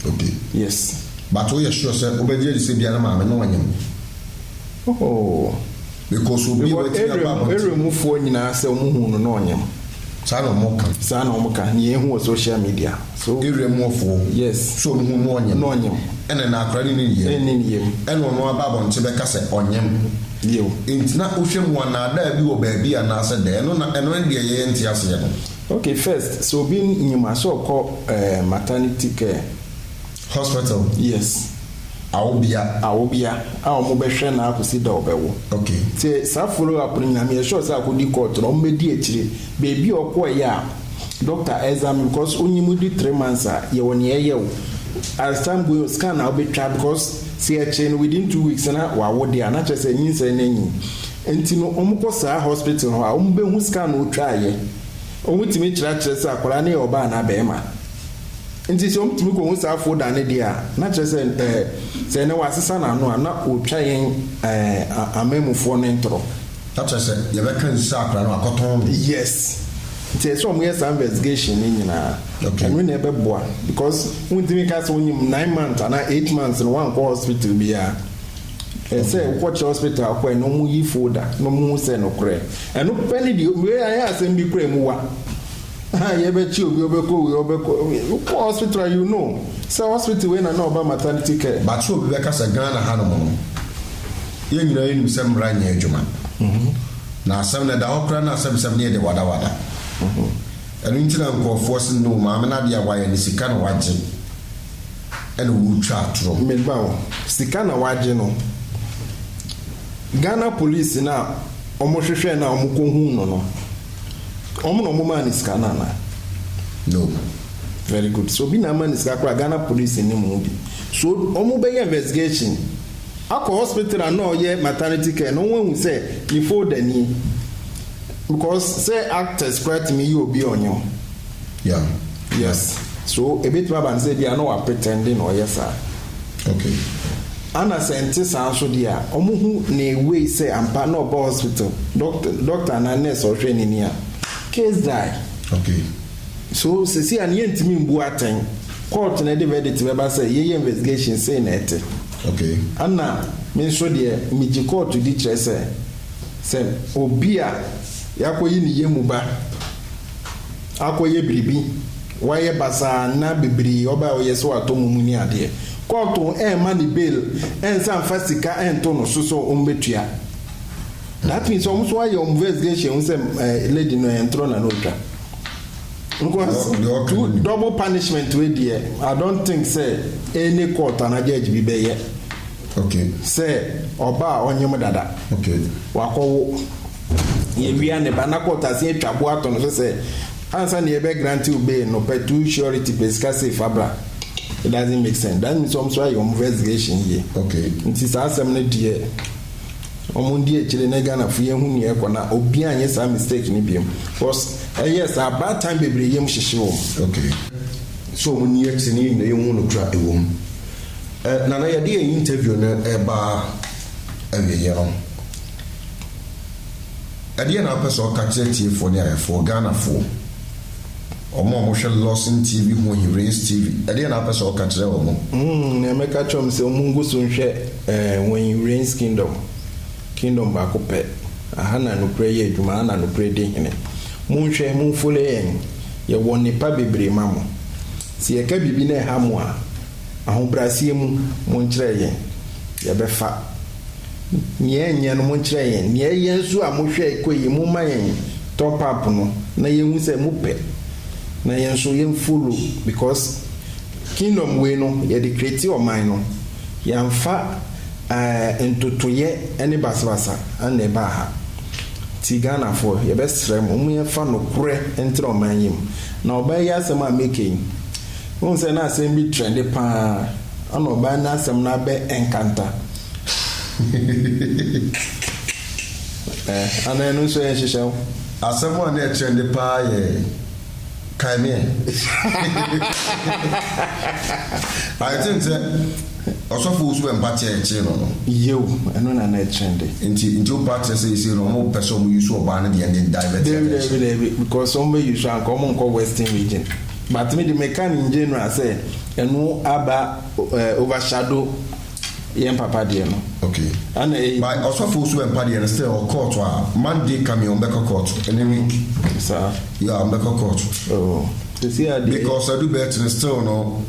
Okay. Yes. But wo yɛ sure sɛ wo bɛ gye adi sɛ bia ne maame no ɔnyem? Oh. Because obi a watumi aba abɔnten. Because area mu foɔ nyinaa sɛ wɔn huu no na ɔnyem. Saa na ɔmo ka. Saa na ɔmo ka. Nea yɛhu wɔ social media. So. Area mu ɔfoɔ. Yes. So ɔmo hu no ɔnyem. No ɔnyem. Ɛna na akora no nim yɛm. Ɛnim yɛm. Ɛna ɔno aba abɔnten bɛka sɛ ɔnyem. Bio. Nti na wohwɛ mu a naadaa bi wɔ baabi anaasɛ dɛ? Ɛno na ɛno ne deɛ yɛn nte aseɛ no. Okay first sɛ obi nyem a sɛ ɔkɔ ɛɛ maternity care. Hospital yes awobea. Awobea a ɔmo bɛ hwɛ no ara kosi da ɔbɛ wo. Okay. Te saa follow up no nyinaa meyɛ sure sɛ akɔdi court no ɔmo bɛ di akyire baabi a ɔkɔɔ yɛ a doctor examine because onyi mu di three months a yɛ wɔ nea ɛyɛ wo as time going scan a wobɛ twa because sɛ yɛ kyee no within two weeks na wa wo deɛ a na kyerɛ sɛ nyinsɛn no anyin nti no ɔmo kɔ saa hospital hɔ a ɔmo bɛ hu scan no otwaa yɛ ɔmo tumi kyerɛ akyerɛ sɛ akwadaa no yɛ ɔbaa anaa bɛɛma. Enti sɛ wɔtumi kohu saa afuw dan no deɛ a, na kyerɛ sɛ ɛɛ, sɛ ɛnnɛ wɔasesa n'ano a, na wɔretwa yɛn ɛɛ a, amanmufoɔ no ntorɔ. Na kyerɛ sɛ yɛbɛka nsu sɛ akora no akɔtɔn no. Yes. Nti ɛsɛ sɛ wɔyɛ saa investigation no nyinaa. Okay. Ɛno na ɛbɛboa because wontumi nka sɛ wonyim nine months anaa eight months no woankɔ hospital biara. Ɛsɛ sɛ wokɔkyerɛ hospital a wokɔe no na wɔyi folder na wɔhu sɛ nokorɛ. Ɛno pɛ ne deɛ, wei ayɛ asɛm bi koraa a emu wa. Ahaa yɛbɛkye obi ɔbɛkɔ wei ɔbɛkɔ wei wokɔ hospital a you know sɛ hospital wei na na ɔba maternity care. But sɛ obi bɛka sɛ Ghana hanom no yɛn nyinaa yɛnim sɛ mmara nyɛ adwuma na asɛm no ɛda hɔ koraa na asɛmsɛm no yɛ de wadawada ɛno nti na nkurɔfoɔ se no maame no adeɛ a wayɛ no sika na wagye ɛna ɔretwa atorɔ. Meba ho. Sika na wagye no. Ghana police no a wɔn hwehwɛɛ no a wɔn kɔ huu no no wɔn na wɔn maa no sika no anaa? No. Very good. Sɛ obi na ama no sika koraa a Ghana police nnim ho bi. So wɔn bɛ yɛ investigation akɔ hospital a na ɔyɛ maternity care no wɔn ahu sɛ ne folder nie? Because sɛ actors koraa tumi yɛ obi a ɔnyɛ wɔn. Yeah. Yes. So ebetumi aba no sɛ ebi a na wa pretend na ɔyɛ saa. Okay. Ana sɛ nte saa nso deɛ a, wɔn hu na ewei sɛ ampa na ɔba hospital, doctor doctor anaa nurse ɔhwɛ n'ani a, case die. Okay. So sisi a ne yɛn ntumi mbu atɛn, court na ɛde verdict bɛba sɛ yɛyɛ investigation sei na ɛte. Okay. Ana me nso deɛ megye court di kyerɛ sɛ sɛ obi a yakɔyi ne yɛ mu ba. akɔyɛ biribi, wayɛ basaa na bebree ɔbaa a ɔyɛ sɛ watɔ mo mu ne adeɛ. Kɔɔto ɛmma ne bail ɛnsa mfa sika ɛnto no so sɛ wɔn bɛtua. That means wɔn nso ayɛ wɔn investigation ahu sɛ lady no ɛyɛ ntorɔ na na ɔtwa. Because two double punishment wei deɛ I don't think sɛ any court anaa judge bi bɛyɛ. Sɛ ɔba a ɔnyem dada. Wakɔwo. Yɛwia ne ba na court asen atwa bo ato no so sɛ ansa na yɛbɛ grante wo bail no pɛ two surety pɛ sika sei fa bra. It doesn't make sense. That means wɔn nso ayɛ wɔn investigation yie. Nti saa asɛm no deɛ wɔn ndi akyire na Ghanafo yɛnhu nea ɛrekɔ na obiara nyɛ saa mistake no biom cos ɛyɛ saa bad time bebree yam hyehye wɔn. So wɔn nni akyire na yɛn nyinaa yɛnhu nokorɛ a ɛwɔ mu. Nana yɛde yɛn interview no reba awieɛ no, ɛdeɛn na wopɛ sɛ woka kyerɛ atiefoɔ ne ayɛfoɔ, Ghanafoɔ, wɔn a wɔhwɛ Lawson TV ho he, Rays TV, ɛdeɛn na wopɛ sɛ woka kyerɛ wɔn? Nea mɛka kyerɛ wɔn sɛ wɔn ngu so nhwɛ he, Rays Kingdom, Kingdom baako pɛ, aha na nokorɛ yɛ adwuma, aha na nokorɛ di hene. Monhwɛ, monfollow yɛn, yɛwɔ nnepa bebree ma mo. Sɛ yɛka biribi na ɛha mo a, Ahobrɛaseɛ mu, monkyerɛ yɛn, yɛbɛfa. Nea ɛnyɛ no, monkyerɛ yɛn. Nea ɛyɛ nso a mohwɛe kɔe yi, momma yɛn top up no na yɛnhu sɛ mopɛ na yɛn nso yɛn follow because kingdom wei no yɛde create ɔman no, yɛamfa eh, ntotoyɛ ne basabasa na ɛbaa ha. Nti Ghanafoɔ, yɛbɛsrɛ mo, momma yɛmfa nokorɛ ntra ɔman yi mu. Na ɔbaa yi asɛm a meka yi, Wohu sɛ na asɛm bi trɛnde paa ana ɔbaa no asɛm no abɛ ɛnkanta eh ana ɛno nso yɛ nhyehyɛw. Asɛm a na ɛtrɛnde paa yɛ kae me ɛ I think sɛ ɔsɔfo Owusu Bɛmpa kyɛɛ kyee no no. Yew ɛno na na ɛtrɛnde. Nti nti wopa kyerɛ sɛ seisei no ɔmo pɛsɛ ɔmo use ɔbaa no deɛ no de divert Daabi daabi attention. daabi because ɔmo bɛ use a nka ɔmo nkɔ western region. But me de me ka no in general sɛ ɛno aba eh, overshadow yɛn papa deɛ no. Okay. Ɛna eh. By ɔsɔfo osu ɛmpa deɛ no still ɔkɔɔto a Monday coming ɔmo bɛkɔ kɔɔto ɛne week. Saa. Yeah ɔmo bɛkɔ kɔɔto. Oh. Sisi adeɛ. Because adu bɛɛkyi no still no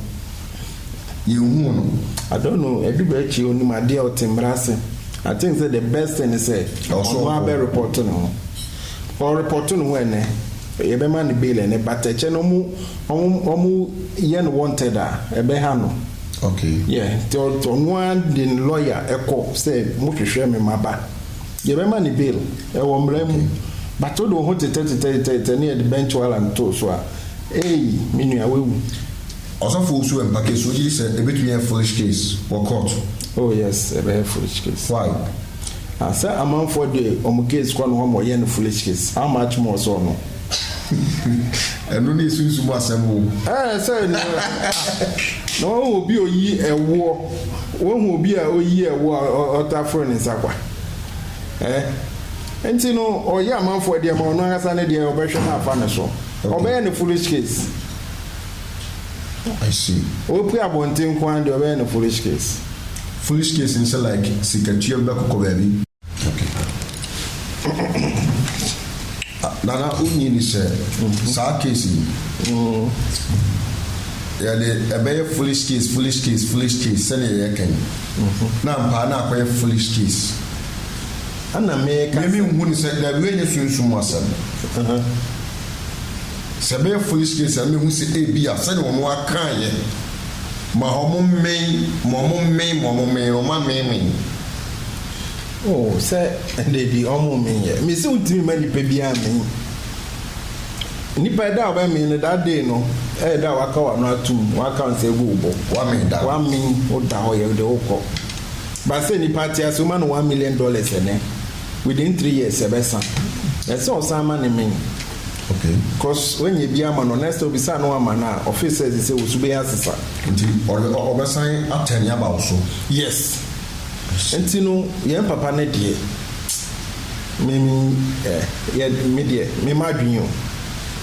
yɛn hu no. I don't know adu bɛɛkyi onim adeɛ ɔte mmara ase. I think sɛ the best thing ne sɛ ɔno abɛ report ne ho. Ɔreport ne ho ɛnɛ. Yɛbɛma no bail ɛnɛ but ɛkyɛ no ɔmo ɔmo ɔmo yɛ no wanted a ɛbɛha no. Okay. Yeah nti ɔno ara de ne lawyer ɛkɔ sɛ mo hwehwɛ me ma ba. Yɛbɛma no bail ɛwɔ mmara mu Okay. but wode wo ho tetɛ tetɛ tetɛ tetɛ ne yɛde bench warrant too so a eii me nua wawu. Ɔsɔfo Osu Ampake so gye di sɛ ebetumi ayɛ foolish case wɔ kɔɔto? Oh yes ɛbɛyɛ foolish case. Why? Ah sɛ amanfoɔ de ɔmo case kɔ no hɔ ma ɔyɛ no foolish case how much more sɛ ɔno. Ɛno ne esunsum mu asɛm oo. Ɛɛ sɛ na na wahu obi a oyi ɛwoɔ wahu obi a oyi ɛwoɔ a ɔtaa foro ne nsa kwa ɛɛ nti no ɔyɛ amanfoɔ deɛ ma ɔno ankasa ne deɛ ɔbɛhwɛ na afa ne so ɔbɛyɛ no foolish case. I see. Ope abɔnten nko ara deɛ ɔbɛyɛ no foolish case. Foolish case ne sɛ like sikatua bi bɛkokɔ baabi. Nana wonyi ni sɛ saa case yi yɛde ɛbɛyɛ foolish case foolish case foolish case sɛdeɛ yɛka yi na ampaa na akɔyɛ foolish case. Ɛna meka sɛ. Mimi nhu ne sɛ daabi wei nyɛ sunsum asɛm. Sɛ ɛbɛyɛ Foisnes a, na mehu sɛ ebia sɛnea wɔn akae yɛ, Ma wɔmmɛn, ma wɔmmɛn, ma wɔmmɛn no, wɔammenmen. Oh, sɛ, dabi, wɔmmen yɛ. Mise wontumi mma nnipa biara mmen. Nnipa, ɛda a wɔbɛmmen no, that day no, ɛyɛ da a wɔaka w'ano atom, wɔaka wo nsa agu wo bo. Wɔammen da no. Wɔammen wo da hɔ yɛ, wode wokɔ. But sɛ nnipa ate ase, woma no one million dollars ɛnnɛ, within three years ɛbɛsa. Ɛsɛ sɛ ɔsan ma no mmen. Okay cos w'anya bi ama no next time obisaa no w'ama no a ɔfeel sɛ sesei wo so bɛyɛ asesa. Nti ɔbɛsan a turn aba wo so. Yes nti no yɛn papa no deɛ me me yɛ me deɛ me ma adwene o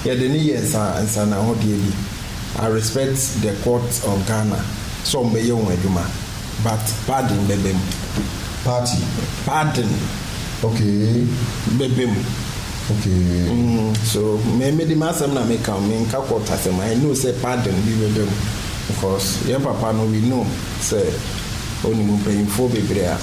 yɛde no yɛ nsa nsanahodeɛ bi I respect the court of Ghana sɛ ɔmo bɛyɛ wɔn adwuma but pardon bɛbɛ mu. Party. Pardon. Okay. Bɛbɛ mu. Okay. So me me de m'asɛm na me ka me nka court asɛm I know sɛ pardon bi bɛba mu because yɛn papa no we know sɛ onim mpanyinfoɔ bebree a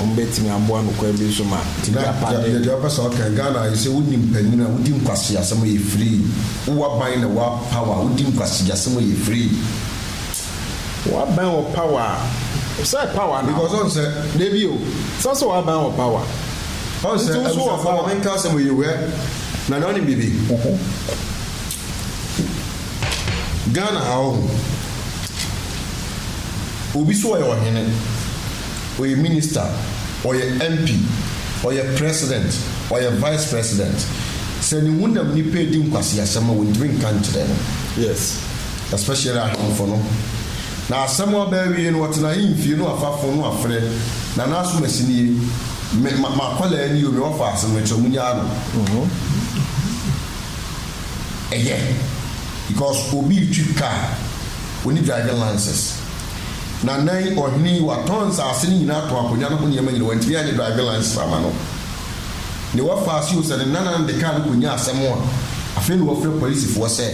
wɔn bɛtumi aboa no kwan bi so ma gya pardon. Deɛ wopɛ sɛ ɔka Ghana ayɛ sɛ wonni mpanyin a wodi nkwaseasɛm a yɛ free wowɔ aban na wɔ power wodi nkwaseasɛm a yɛ free. W'abɛn wɔ power a, sɛ power na. Because ɔn sɛ, dabi o. Sɛ sɛ w'abɛn wɔ power. Ɔn sɛ, abusuafo ma me nka asɛm yi o hwɛ, Nana ɔnim biribi. Ghana ha ɔho, obi so ɔyɛ ɔhene, ɔyɛ minister, ɔyɛ MP, ɔyɛ president, ɔyɛ vice president, sɛ ne honam nipa edi nkwaseasɛm a wɔntumi nka nkyerɛ no. Yes. especially ahemfo no, na asɛm aba awie no wɔtena ahemfie no afafo no afrɛ Nana Asumasi nie, me ma m'akwadaa nie o, me wɔ faase no mekyerɛ munyaa no. Ɛyɛ because obi retwi car, ɔnni driving license. Nana yi, ɔhene yi, watɔn nsaase no nyinaa, atɔn akonnwa no ho nneɛma nyinaa, wantumi anyɛ driving license amma no. Newɔf faa ase o sɛ ne nanan de kaa no kɔnyaa asɛm a, afei na wɔfrɛ polisifoɔ sɛ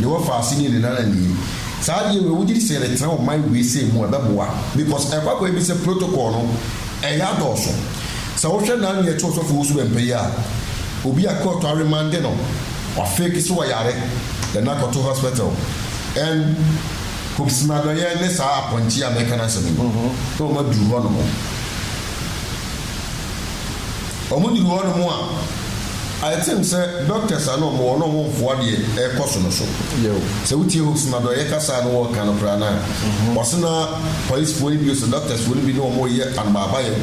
Newɔf faa ase nii ne nanan nie. Saa adeɛ wei wogye di sɛ yɛretena ɔman wei sei mu a ɛbɛboa? Because ɛkɔ akɔyɛ bi sɛ protocol no ɛyɛ adɔɔso. Sɛ wohwɛ naa nea ɛte Ɔsɔfo Owusu Bɛmpa yi a, obi a court aremande no, wafake sɛ ɔyare, then akɔto hospital and Kobsnadɔyɛ ne saa apɔnkye yi a mɛka n'asɛm yi, na wɔaduru hɔ nom. wɔduru hɔnom a, I think sɛ doctors a na wɔwɔ hɔ no wɔn mfoa deɛ ɛrekɔ so no so. Sɛ wotie Hooks no a, dɔyɛ kasa a na wɔreka no koraa no a, ɔse na policefoɔ no bi, sɛ doctorsfoɔ no bi ne wɔn reyɛ anbaabayɛ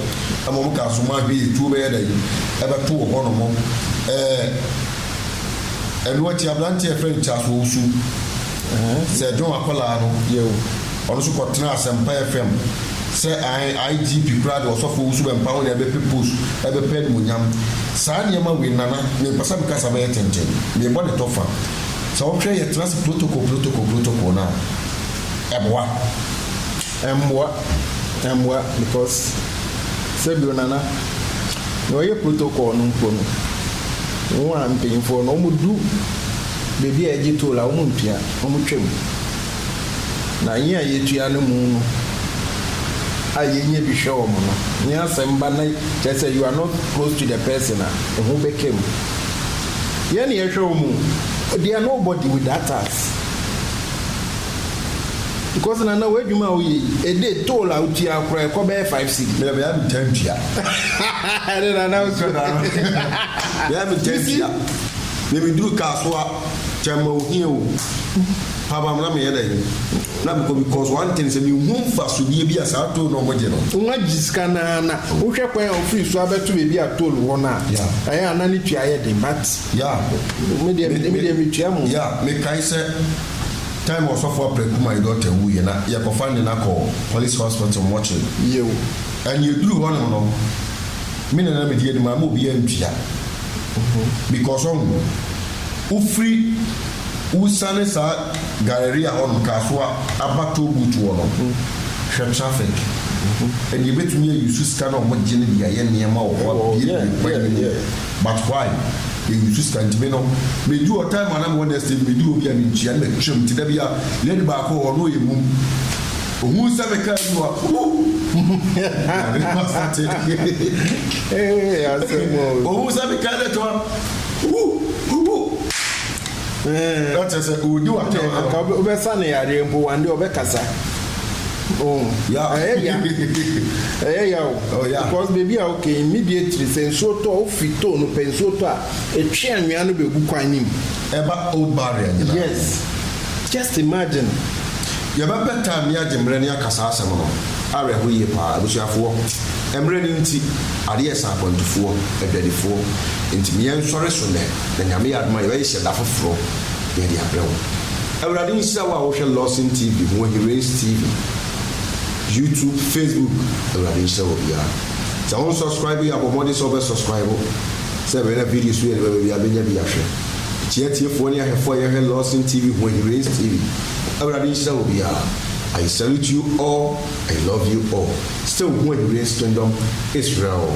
ma wɔn kaa so ma ahwɛ yie tuo bɛyɛ dɛn ɛbɛtoo hɔnom. Ɛɛ ɛno akyi aberanteɛ a yɛfrɛ no Charles Owusu, Sɛ ɛdwen w'akwadaa no yɛ o. Ɔno nso kɔ tena asɛmpa FM sɛ ae IGP koraa de ɔsɔfo wusu bɛ mpa ho na ɛbɛpɛ post ɛbɛpɛ animuonyam. Saa nneɛma wei Nana mempɛ sɛ mekasa bɛyɛ tenten mebɔ ne tɔ fa. Sɛ wohwɛ yɛ tena ase protocol protocol protocol no a ɛboa? Ɛmmoa ɛmmoa because sɛ bio Nana nea ɔyɛ protocol no mpo no wo a mpanyinfoɔ no wɔn du. baabi a yɛgye toll a wɔn ntua, wɔn twa mu. Na yɛn a yɛtua no mu no a yɛnya bi hwɛ wɔn no, ne asɛm ba na kyerɛ sɛ you are not close to the person a, ehu bɛka mu. Yɛn na yɛhwɛ wɔn o, they are nobody without us. Because Nana w'adwuma a woyɛ yi, a day toll a wotua koraa ɛkɔ bɛyɛ five cedi. Meyɛ bɛyɛ metaa ntua. Ɛne Nana wo so. Bɛyɛ metaa ntua. Na meduru Kasoa, Kyɛmma ohia o, Pabam na meyɛ dɛn na mekɔ because one thing sɛ menhu mfasodeɛ bi a saa toll na ɔmo gye no. Nwa gye sika no ara na wohwɛ kwan a ofiri so abɛto baabi a toll wɔ no a, Yeah. ɛyɛ a na ne tua yɛ den but Yeah. me deɛ me deɛ metua mu. Yeah, mekae sɛ time a Ɔsɔfo Apraku my daughter wuiɛ na yɛkɔfa ne na kɔɔ police hospital mortuary. Yiw. And yɛduruu hɔnom no, Me na na medi anim a ma obi antua because ɔho wofiri wosane saa Galleria hɔ nom Kasoa aba toll booth hɔ no hwɛ traffic ɛnneɛ yɛbɛtumi a use sika na ɔmo gye no de ayɛ nneɛma wɔ hɔ abuebue kwan no mu but why yɛ use sika nti me no medu hɔ time a na mewɔ next day no medu hɔ bi a mentua na matwam nti da biara lady baako wɔ hɔ na ɔyɛ mum Ohun sɛ me kaa mu a Ohun sɛ me kaa dɛ twa Ɛkyɛ sɛ odi wa tɛ wa. Ka wobɛ sa ne yareɛ mpo wande ɔbɛ kasa. Oh, ɛyɛ ya. Ɛyɛ ya o. Oh, yeah. Because baby a okay immediately sɛ nsuo tɔ ofi too no pɛ nsuo tɔ a etwe anwea no bɛ gu kwan ne mu. ɛba old barrier nyinaa. Yes just imagine yɛbɛ pɛ time ne agye mmerɛ ne aka saa asɛm no awerɛho yie paa abusuafoɔ mmerɛ no nti adeɛ ɛsa akwantufoɔ adwadifoɔ nti me yɛn sɔre so nɛ na nyame yɛ adom a yɛbɛ hyehyɛ da foforɔ yɛde abrɛ wo awurade nhyira wo a wo hwɛ lawson TV ho ahi race TV YouTube Facebook awurade nhyira wɔ biara sɛ wo nsubscribe yɛ abɔ mmɔden sɛ wo bɛ subscribe. Sɛ bɛn na BD so yɛ ne bɛbɛ bia bɛnya bi ahwɛ. Kyia atiefoɔ ne ahwɛfoɔ a yɛhwɛ Lawson TV ho ayi Rays TV. Awurade nhyira obiara. I salute you all I love you all still ho ayi Rays Kingdom Israel.